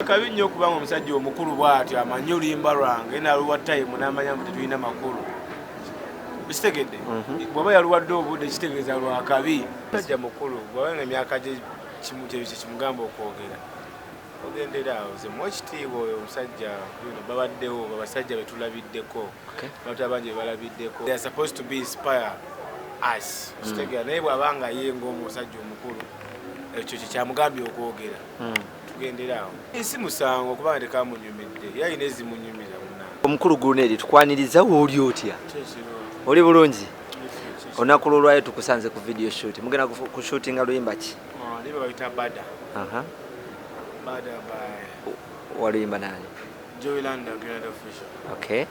kabi nnyo okubanga omusajja omukulu bwatyo amanyi oluyimba lwange naluwa time namanya mbu tetulina makulu kitegedde mhm. bwaba yaluwadde obudde kitegeeza lwakabi musajja mukulu bwaba nga emyaka gye kimugamba okwogera ogendera awo ze muwa ekitiibwa oyo omusajja bino babaddewo babasajja betulabiddeko abantu abangi bebalabiddeko they are supposed to be inspire us kitegera mm. naye bwaba nga ye ngaomusajja omukulu ekyo kyekyamugambye okwogera mm. tugendera awo esi musango kuba nga tekamunyumidde era alina ezimunyumira omukulu guneeri tukwaniriza wooli otya oli bulungi olunaku lwolwayo tukusanze ku video shoot mugenda kushutinga luyimba ki oh, waluyimba nani okay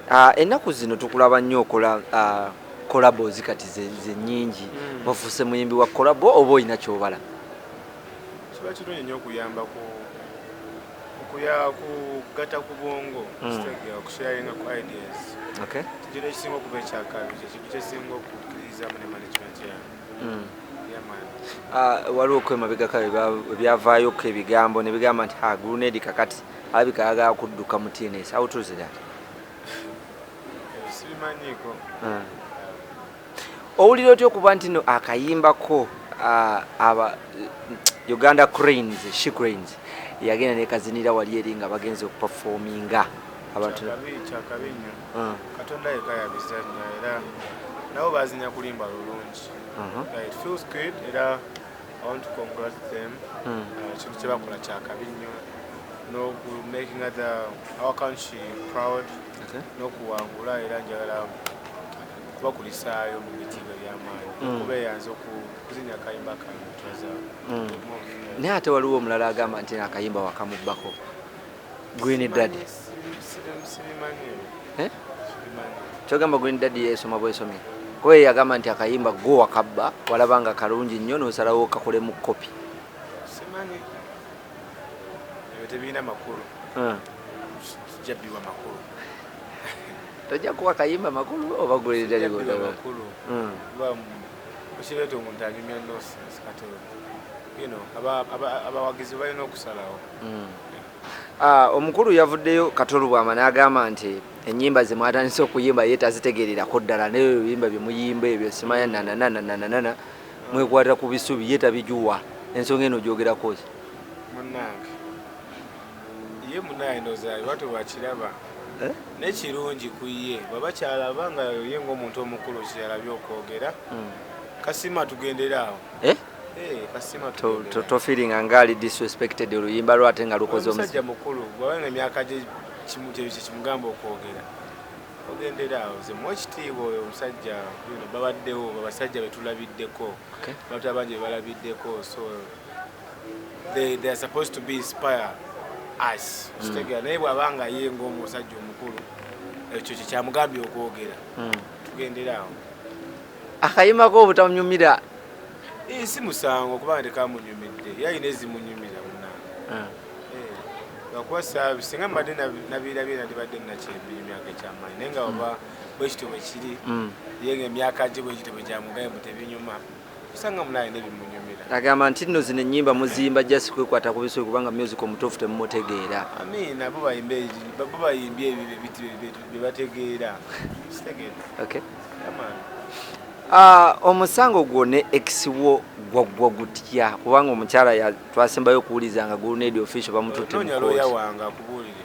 ah, ennaku zino tukulaba nnyo okola ah, collabos kati zenyingi mm. wafuuse muyimbi wa collabo oba olina kyobala kiba kirungi nnyo okuyamba ku okuya kugatta ku bwongo hmm. okusharinga ku ideas kigiro ekisinga okuba ekyakabi kyekintu kyesinga okukkirizamu ne management yange hmm. ah, waliwo okwemabegako ebyavaayoku ebigambo nebigamba nti ha grunedi kakati alabika ayagala kudduka mu tns awutuuzidat sibimanyiiko ah. Owulira otya okuba nti no akayimba ko aba Uganda Cranes, She Cranes yagenda nekazinira wali eri nga bagenze okuperforminga abantu kyakabi nnyo ah. Katonda yeka yabizannya era nabo bazinya kulimba lulungi uh-huh. it feels good era I want to congratulate them hmm. uh, kintu kyebakola kyakabi nnyo noku making other our country proud nokuwangula era njagala kubakulisaayo mu bitiibwa ebyamaanyi mm. okubeeyanza okuzinya akayimba kano twaza mm. naye ate waliwo omulala agamba nti akayimba wakamubbako green dad eh? kyogamba green dad yesoma bwesomye kuba ye yagamba nti akayimba gwo wakabba walaba nga kalungi nnyo nosalawo kakolemu kopi ebyo tebirina makulu ah. kijabbiwa makulu tojja kuwa kayimba makulu oba gulidalikulu hmm. okireeta omuntu anyumya nosense kati yino abawagizi balina okusalawo hmm. ah, omukulu yavuddeyo katolubwama n'agamba nti enyimba zemwatandise okuyimba ye tazitegererako ddala naye ebiyimba byemuyimba ebyo simaya nanananananana mwekwata ku bisubi ye tabijuwa ensonga eno gyogerako ki munange ye munaye nozaayo batu bakiraba eh? nekirungi ku ye baba kyalaba nga ye ngaomuntu omukulu kyeyalabye okwogera hmm. kasima tugendere awo eh? eh, tofiringa ngaali disrespected oluyimba lwate nga lukoze omusajja mukulu bwabanga emyaka gye kimugamba okwogera ogendera awo nze muwa ekitiibwa oyo omusajja babaddewo abasajja betulabiddeko abantu abangi bebalabiddeko so they, they are supposed to be inspire us mm. kitegera naye bwaba nga ye ngaomusajja omukulu ekyo kyekyamugambye okwogera mm. tugendera awo akayimako obutamunyumira si musango kuba ndekamunyumidde yalina ezimunyumira munange ah. lwakuba saabi singa mbadde nabirabye nandibadde nakyembi emyaka ekyamaanyi naye nga oba bwekityo bwekiri mm. ye nga emyaka gye bwekityo bwe gyamugaye mu tebinyuma osanga mulaye nebimunyumira agamba nti nno zino ennyimba muzimba jasi kwekwata ku bisobi kubanga music omutuufu temumutegeera amiina bo bayimbye ebyo bye bategeera ah, omusango gwo ne ex wo gwaggwa gutya kubanga omukyala twasembayo okuwuliza nga guluneedi official bamututte mu Noonya looya kooti wange akubuulire.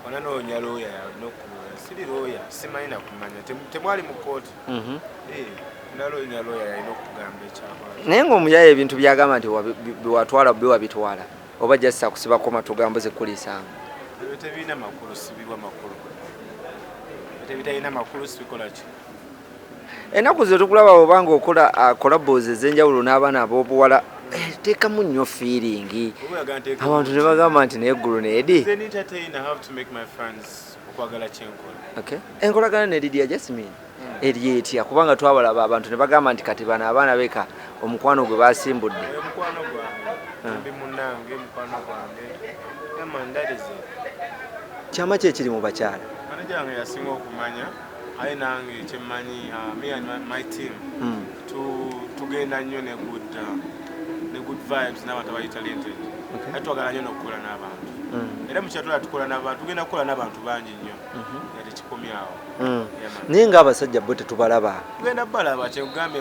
Wala noonya looya n'okubuulira. Siri looya, simanyi na kumanya. Tem- Temwali mu kkooti. Mhm. Eh, naloonya looya yalina okugamba ekyakwata. naye ng'omuyaye ebintu byagamba nti wabi- bi- biwatwala biwabitwala oba just akusibako matu gambo zekuliisanga Ebyo tebirina makulu, sibibwa makulu. Ebyo tebitalina makulu sibikola ki? enaku zetukulaba bwobanga okola kolabos uh, ezenjawulo n'abaana abobuwala eh, teekamu nnyo fiiringi abantu ne bagamba nti naye eggulu needi enkolagana nedidia jasmin hmm. eri etya kubanga twabalaba abantu ne bagamba nti kati bano abaana beka omukwano gwe basimbudde kyama kyekiri mu bakyala manajange yasinga okumanya aye nange kyemmanyi uh, me and my, my team mm. tu, tugenda nnyo ne good uh, ne good vibes n'abantu abali talented okay. aye twagala nnyo n'okukola n'abantu mm. era mukyatula tukola n'abantu tugenda kukola n'abantu bangi nnyo mm -hmm. nga tekikomyawo mm. naye nga abasajja bo tetubalaba tugenda balaba kyekugambye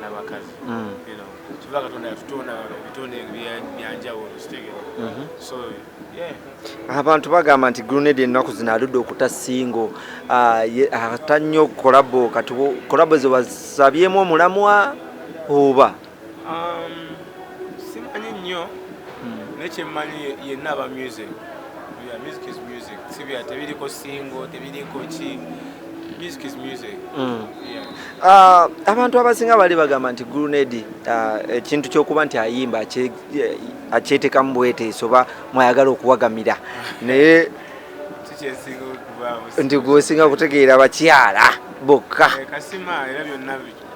nabakazi mm. kiba katonda yatutonda ebitonde byanjawulo kitegera mhm. so abantu bagamba nti grunade ennaku zino aludde okuta singo ah, ata nnyo kolabo kati kolabo ze wasabyemu omulamwa oba um, simanyi nnyo hmm. naye kyemmanyi yenna aba music music is music sibya tebiriko singo tebiriko ki Mm. Ah, abantu abasinga bali bagamba nti grunedi ah, ekintu kyokuba nti ayimba akyetekamu bweteeso oba mwayagala okuwagamira naye nti gwosinga kutegeera bakyala bokka eh,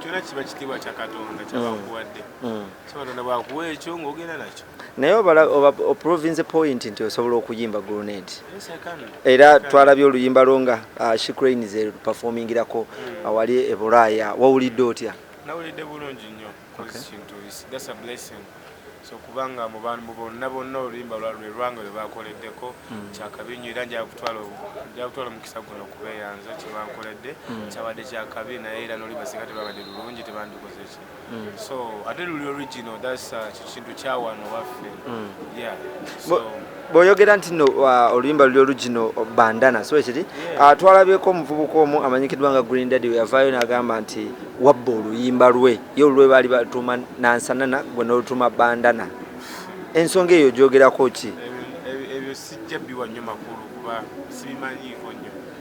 kyona kiba kitiibwa kya katonda kyabakuwadde mm. mm. so katonda bwakuwa ekyo ngaogenda nakyo naye oprovinze point nti osobola okuyimba grenade era twalabye oluyimba lwo nga uh, shicrain zeperformingirako hmm. awali ebulaaya wawulidde otya nawulidde bulungi nnyo kintu that's a blessing so kubanga mu bantu bonna bonna oluyimba lwalwe lwange lwe bakoleddeko hmm. kyakabi nnyo era njaga kutwala omukisa guno okubeeyanza kyebankoledde hmm. kyabadde kyakabi naye era noli basika tebabadde lulungi tebandikoze ki mm. so ate luli original that's uh, kintu kyawano waffe mm. yeah so bwoyogera nti no uh, oluyimba luli original uh, bandana so ekiri yeah. uh, twalabyeko omuvubuka omu amanyikiddwa nga green daddy weyavaayo nagamba nti wabba oluyimba lwe ye olulwe baali batuuma nansanana gwe nolutuuma bandana ensonga eyo gyogerako ki ebyo sijja biwa nnyo makulu kuba sibimanyiiko nnyo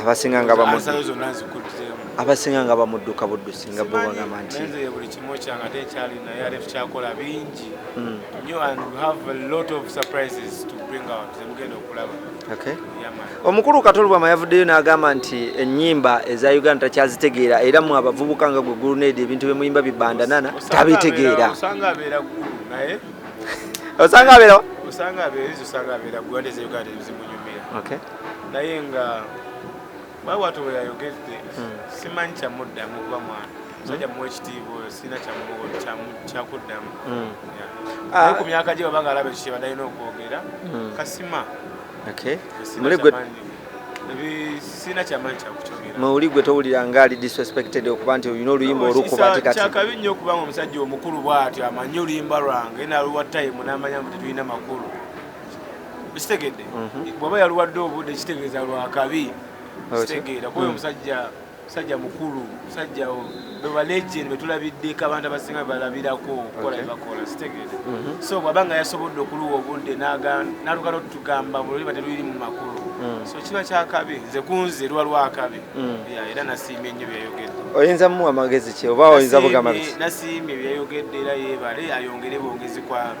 abasinga nga abasinga nga bamudduka buddusi nga bo bagamba nti buli kimu kyange ate ekyali naye ate tukyakola bingi hmm. nyo and we have a lot of surprises to bring out zemugenda okulaba omukulu katolubwama yavuddeyo n'agamba nti ennyimba eza uganda takyazitegeera era mu abavubuka nga gwe guluneedi ebintu bye muyimba bibandanana tabitegeera osanga abeera gwe nti uganda ezimunyumira naye nga bwewatu weyayogedde hmm. simanyi kyamuddamu kuba mwana musajja muwa ekitiibwa oyo sirina kyakuddamu hmm. ah. ku myaka gye babanga alaba ekyo kyebadalina okwogera hmm. kasima sirina kyamanyi kyakukyogera muli gwe towulira nga ali disrespected okuba nti olina oluyimba olukuba ati kati kyakabi nnyo okubanga omusajja omukulu bwatyo amanyi oluyimba lwange naluwa tayimu namanya nti tulina makulu sitegedde mhm. bwaba yalwadde obudde kitegeeza lwakabi sitegeera kuba omusajja mm. musajja mukulu musajja bebalegend betulabiddeko abantu abasinga bebalabirako okukola bebakola sitegeera mhm. so bwaba nga yasobodde okuluwa obudde nalugala otugamba buloliba teluyiri mu makulu mm. so kiba kyakabi nze kunze lwa lwakabi mm. era nasiimye nnyo byeyogedde oyinza muwa magezi ki oba oyinza bugamba nasiimye byeyogedde era yebale ayongere bwongezi kwalo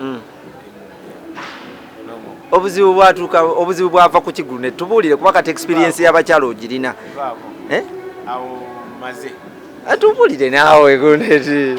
mm. obuzibu bwatuuka obuzibu bwava ku kigulu ne tubuulire kuba kati experience y'abakyala ogirina eh? awo maze atubuulire naawe guneti